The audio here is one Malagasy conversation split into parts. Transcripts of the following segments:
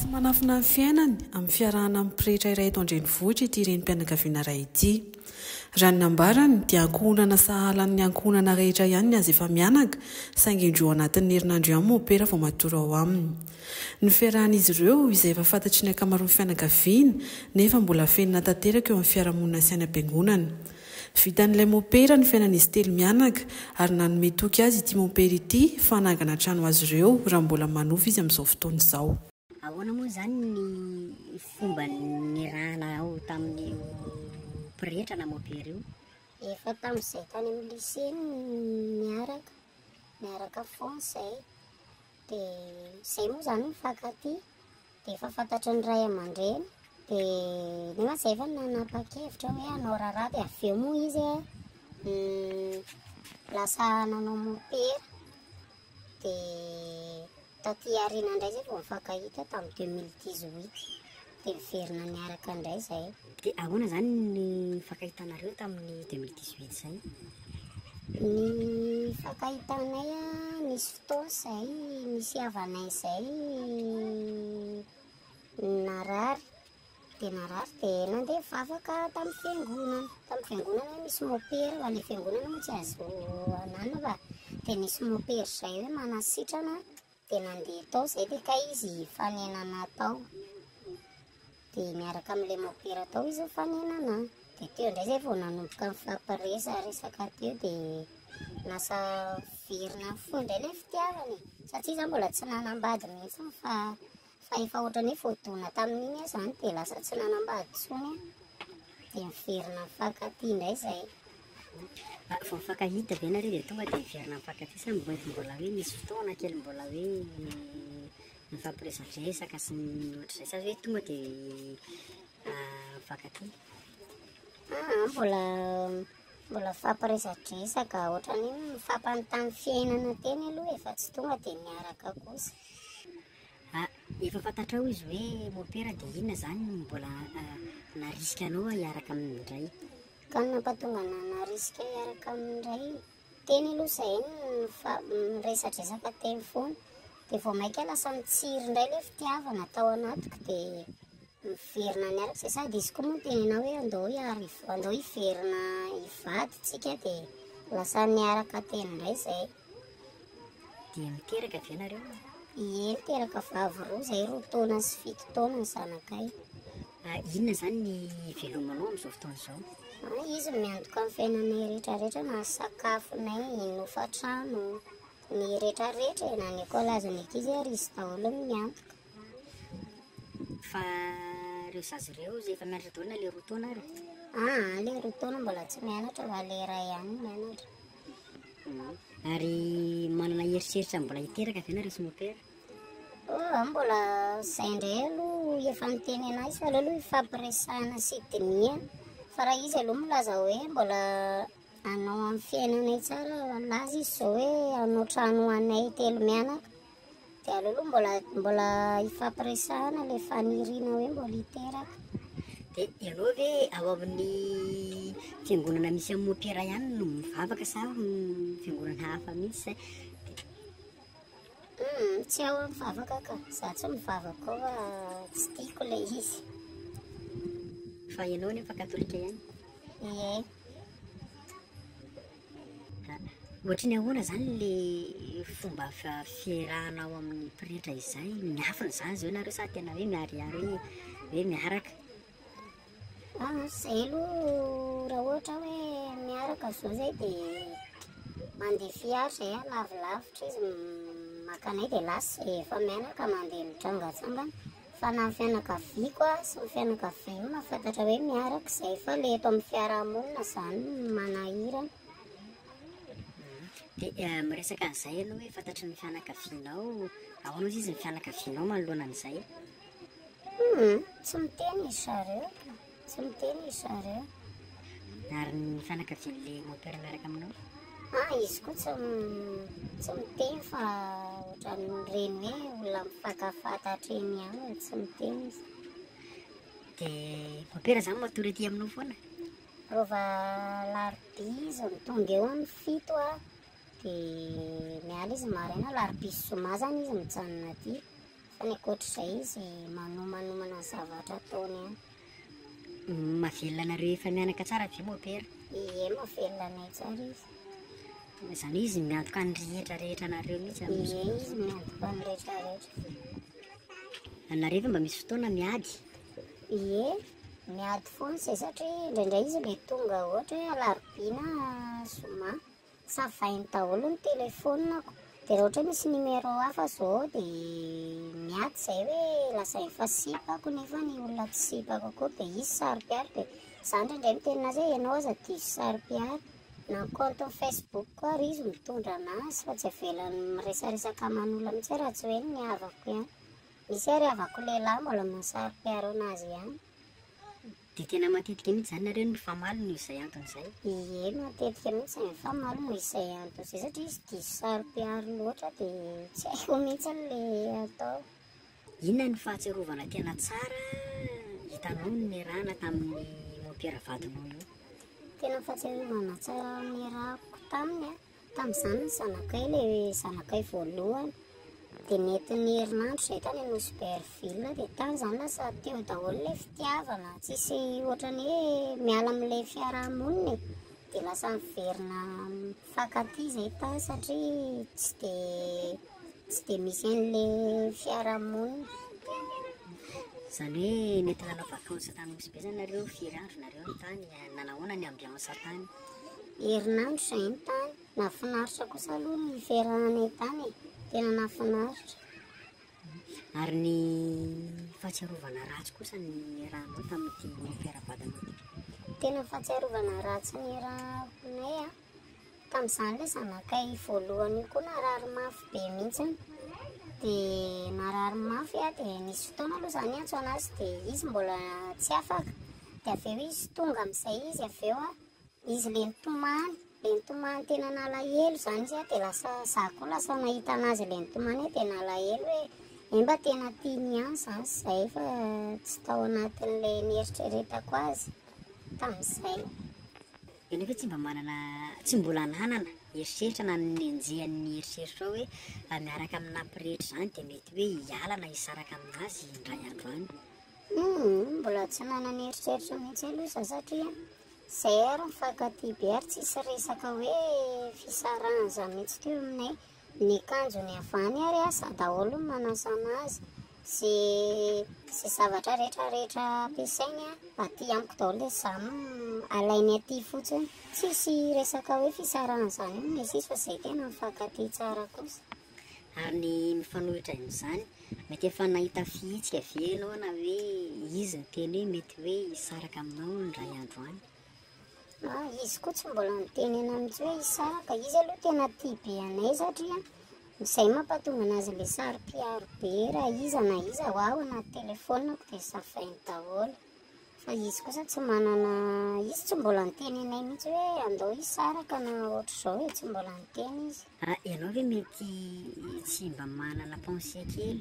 Tsy manafina ny fiainany amin'ny fiarahana amin'ny pretra iray eto an-drenivohitra ity renim-pianakaviana iray ity. Raha ny nambarany dia ankohonana sahala amin'ny ankohonana rehetra ihany ny azy efa mianaka saingy indroa ao anatin'ny herinandro ihany mopera vao matory ao aminy. Ny fiarahan'izy ireo izay efa fantatry ny ankamaroan'ny fianakaviana nefa mbola afenina tanteraka eo amin'ny fiarahamonina sy any am-piangonana. Vitan'ilay mopera ny fiainan'izy telo mianaka ary nanome toky azy ity mopera ity fa hanangana trano azy ireo raha mbola manofa izy amin'izao fotoana izao. Ahoana moa izany ny fomba niarahanao tamin'io pretra na mopera io? Efa tamin'izay tany amin'ny lycée no niaraka, niaraka foana izay, dia izay moa izany nifankatia. Dia efa fantatry ny ray aman-dreny, dia nefa izay efa nanapa-kevitra hoe hanao raharaha, dia avy eo moa izy lasa nanao mopera, dia taty aoriana indray izay vao nifankahita tamin'ny deux mille dix huit, dia niverina niaraka indray izay. Dia ahoana izany ny nifankahitanareo tamin'ny 2018 izay? Ny nifankahitanay nisy fotoana izay nisy havanay izay narary dia narary dia nandeha vavaka tamin'ny fiangonana tamin'ny fiangonana hoe misy mopera fa ilay fiangonana moa tsy azo ananana fa dia nisy mopera izay hoe manasitrana Dia nandeha tao izay dia kay izy hifanenana tao. Dia miaraka amin'ilay mopera tao izy nifanenana. Dia teo indray izay vao nanomboka nifampiresaresaka teo dia lasa virina fo indray ilay fitiavana e. Satria izaho mbola tsy nanambady mihitsy fa Fa efa ohatran'ny hoe voadona tamin'iny aho izany dia lasa tsy nanambady intsony aho. Dia miverina mifankatia indray izay. Ah, vao mifankahita ve nareo dia tonga dia miverina mifankatia sa mety mbola hoe nisy fotoana kely mbola hoe nifampiresadresaka sy ny ohatr'izay sa hoe tonga dia ah, mifankatia? Ah, ah, mbola mbola mifampiresadresaka ohatran'ny hoe mifampanontany fiainana teny aloha efa tsy tonga dia niaraka kosa. Ah, efa fantatrao izy hoe mopera dia inona izany no mbola ah, narisika anao hiaraka aminy indray? Ka ny nampatonga anah narisika hiaraka aminy indray, teny aloha izay fa miresadresaka teny foana, dia vao mainka lasa mitsiry indray ilay fitiavana tao anatiko dia. Miverina any araka izay sady izy koa moa tenenao hoe andao hiaro andao hiverina hivady tsika de lasa niaraka teny indray zay. Dia niteraka ve nareo? Ie, niteraka vavy roa izay roa taona sy fito taona ny zanakay. Ah, inona izany ny ivelomanao amin'izao fotoana izao? Ah, izy miantoka amin'ny fiainanay rehetrarehetra na sakafonay, ny hofantrano, ny rehetrarehetra e, na ny ekolazan'ny ankizy ary izy daholo no miantoka. Fa reo zaza reo ozy efa mianatra daolo na le roa taona ary? Aa le roa taona mbola tsy mianatra fa le iray ihany mianatra. Ary manana eritreritra mbola hiteraka ve nareo sy mopera? Oh, mbola zay ndray aloha efa miteny anay sy aleo aloha ifampiresahana sy dinihana fa raha izy aloha milaza hoe mbola anao amin'ny fiainanay tsara laza izy zao hoe anao trano ho anay telo mianaka De aleo aloha mbola mbola hifampiresahana le faniriana hoe mbola hiteraka. De ianao ve ao amin'ny fiangonana misy an'i Mopera ihany no mivavaka sa amin'ny fiangonana hafa mihitsy zay? Hmm, tsy ao aho mivavaka ka, za tsy mivavaka ao fa tsy tiako le izy. Fa ianao nefa katolika ihany? Ie. Ohatry ny ahoana izany ilay fomba fiarahana ao amin'ny pretra izay? Miafina izany izao ianareo sa tena hoe miharihary hoe hoe miaraka? Ah, izay aloha raha ohatra hoe miaraka izao izay dia mandeha fiara izay ah, lavilavitra izy, m- maka anay dia lasa izay efa mianaka mandeha mitrangatsangana. Fa na ny fianakaviako aza sy ny fianakavianao mahafantatra hoe miaraka izay fa ilay eto amin'ny fiarahamonina izany no manahirana. Dia miresaka an'izay ianao hoe fantatry ny fianakavianao, ahoana hozy izy ny fianakavianao manoloana an'izay? Tsy miteny izy zareo. Tsy miteny ry zareo. Ary ny fanakavian'ilay moteur miaraka aminao? Ah, izy koa tsy tsy miteny fa ohatran'ny reny hoe olona mifatafata hatreny ihany, tsy miteny izy. Dia mompera za matory aty aminao foana. Rova larobia izy mitonga eo ny fito a dia miala izy maraina larobia sy zoma zany izy mijanona aty. Fa ny ankoatr'izay izy manomanomana zavatra ataony an. Mavelona anareo efa mianaka tsara ve mopera? Ie mavelona anay tsara izy. Izany hoe izy miantoka ny rehetra rehetra anareo mihitsy amin'izao. Ie izy miantoka ny rehetra rehetra. Anareo ve mba misy fotoana miady? Ie miady foana izay satria indraindray izy mety tonga ohatra hoe alarobia na zoma. Savainy daholo ny telefonako de raha ohatra hoe misy numéro hafa zao de miady zay hoe lazainy fa sipako nefa ny olona tsy sipako akory de izy saropiaro de za ndraindray miteny anazy hoe ianao aza diso saropiaro na ny compte facebook ko ary izy mitondra anazy fa tsy avelany miresaresaka aman'olona mihitsy hoe raha tsy hoe ny havako ihany, misy ary havako lehilahy mbola mahasaropiaro anazy ihany. Dia tena matetika mihitsy izany nareo no mifamaly noho izay antony izay. Ie matetika mihitsy ny mifamaly noho izay antony izay satria izy diso saro-piaro loatra dia tsy haiko mihitsy ilay atao. Inona ny fahatsiarovana tena tsara hitanao nierahana tamin'ny mompera vadinao io? Tena fahatsiarovana tsara nierahako taminy an! Tamin'izany ny zanakay, ilay zanakay voalohany, dia nentin'ny herinandro izay tany Nosy Berville, dia tany izany lasa teo daholo ilay fitiavana, tsisy ohatran'ny hoe miala amin'ilay fiaraha-monina e, dia lasa miverina mifankatia izay tany satria tsy dia tsy dia misy an'ilay fiaraha-monina. Izany hoe nety nanao vacances tany Nosy be izany nareo, firy andro nareo no tany, nanahoana ny ambiance tany? Herinandro izay ny tany. Nahafinaritra kosa aloha ny firahanay tany e. Tena nahafinaritra. Ary ny fahatsiarovana ratsy kosa ny nirahanao tamin'ity fiarabadanao ity? Tena fahatsiarovana ratsy nirahanay a. Tamin'izany ilay zanakay voalohany io koa narary mafy be mihitsy. Dia narary mafy aho dia nisy fotoana aloha izaho niantso an'azy dia izy mbola tsy afaka. de avy eo izy tonga amizay izy avy eo an, izy le nitomany le nitomany tena nalahelo zany izy an de lasa za koa lasa nahita anazy le nitomany eo de nalahelo hoe emba tena tiany ihany zany zay fa tsy tao anatinle nieritreretako azy tamizay. Enao ve tsy mba manana tsy mbola ananana eritreritra na nenjehan'ny eritreritrao hoe raha miaraka amin'ny nampirehitra izany dia mety hoe hiala na hisaraka aminazy indray andro any? Humm mbola tsy manana eritreritra mihitsy aloha za satria CR mifankatia be ary tsisy resaka hoe fisarahana zany mihitsy teo aminay. Ny kanjony avy any ary asa daholo ny manasa anazy sy sy zavatra rehetra rehetra ampiasainy aty amiko daholo dia za alainy aty fotsiny. Tsisy resaka hoe fisarahana zany io no misy izy fa zay tena mifankatia tsara kosa. Ary ny mifanohitra amin'izany, mety efa nahita fihetsika ve ianao na hoe izy niteny hoe mety hoe hisaraka aminao indray andro any? Ah, izy koa tsy mbola niteny anay mihitsy hoe hisaraka. Izy aloha tena tia be anay satria izay mampatonga anazy ilay saro-piaro be raha iza na iza ho aho anaty telefonako dia safrainy daholo. Fa izy kosa tsy manana, izy tsy mbola niteny anay mihitsy hoe andao hisaraka na ohatr'izao e, tsy mbola niteny izy. Ah, ianao ve mety tsy mba manana pensée kely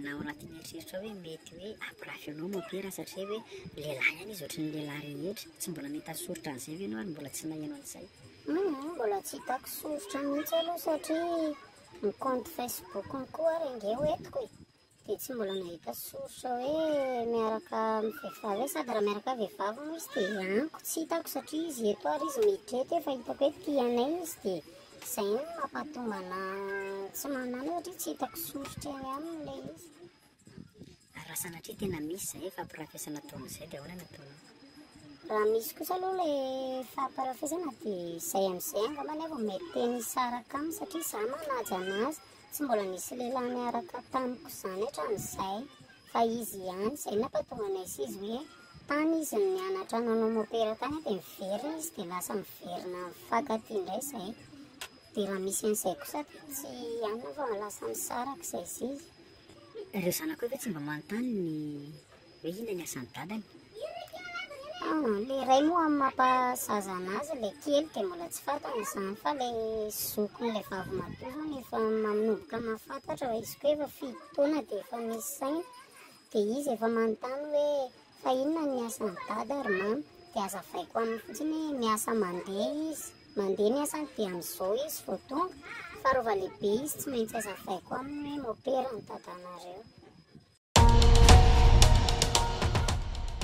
na ao anatin'ny eritreritrao hoe mety hoe hampirafy anao mon père satria hoe lehilahy ihany izy ohatry ny lehilahy rehetra, tsy mbola nahita soritra an'izay ve ianao ary mbola tsy naheno an'izay? Hum, mbola tsy hitako soritra mihitsy aloha satria ny compte Facebook-ny koa ary ange ho entiko e. Dia tsy mbola nahita source hoe miaraka amin'ny vehivavy hoe sady raha miaraka vehivavy moa izy dia anko tsy hitako satria izy eto ary izy miditra eto efa hitako hoe tia anay izy dia izay no mampahatonga ana tsy manana satria tsy hitako source eny aminy ilay izy. Ary raha sanatria tena misy izay ifampiarafesana toa an'izay dia ahoana no ataonao? Raha misy kosa aloha ilay ifampiarafesana dia izay amin'izay angambany aho vao mety te-hisaraka aminy satria izaho manaja an'azy. Tsy mbola nisy lehilahy niaraka tamiko izany hatramin'izay, fa izy ihany. Izay nampahatonga anay sy izy hoe tany izy no nianatra nanao mopera tany dia miverina izy dia lasa miverina mifankatia indray izay. Dia raha misy an'izay kosa dia tsy hanina fa lasa misaraka izay sy izy. Ireo zanakao ve tsy mba manontany ny. Hoe inona ny asan'i dadany? Ilay ray moa amin'ny mampahasaza anazy, ilay kely dia mbola tsy fantany izany fa ilay zokin'ilay vavy matoa izany efa manomboka mahafantatra fa izy koa efa fito taona dia efa misy saina dia izy efa manontany hoe fa inona ny asan'i dada ry mama dia azavaiko aminy fotsiny hoe miasa mandeha izy. Mandeha ny asany dia amin'izao izy vao tonga fa rova lehibe izy tsy maintsy azavaiko aminy hoe mopera ny dadanareo.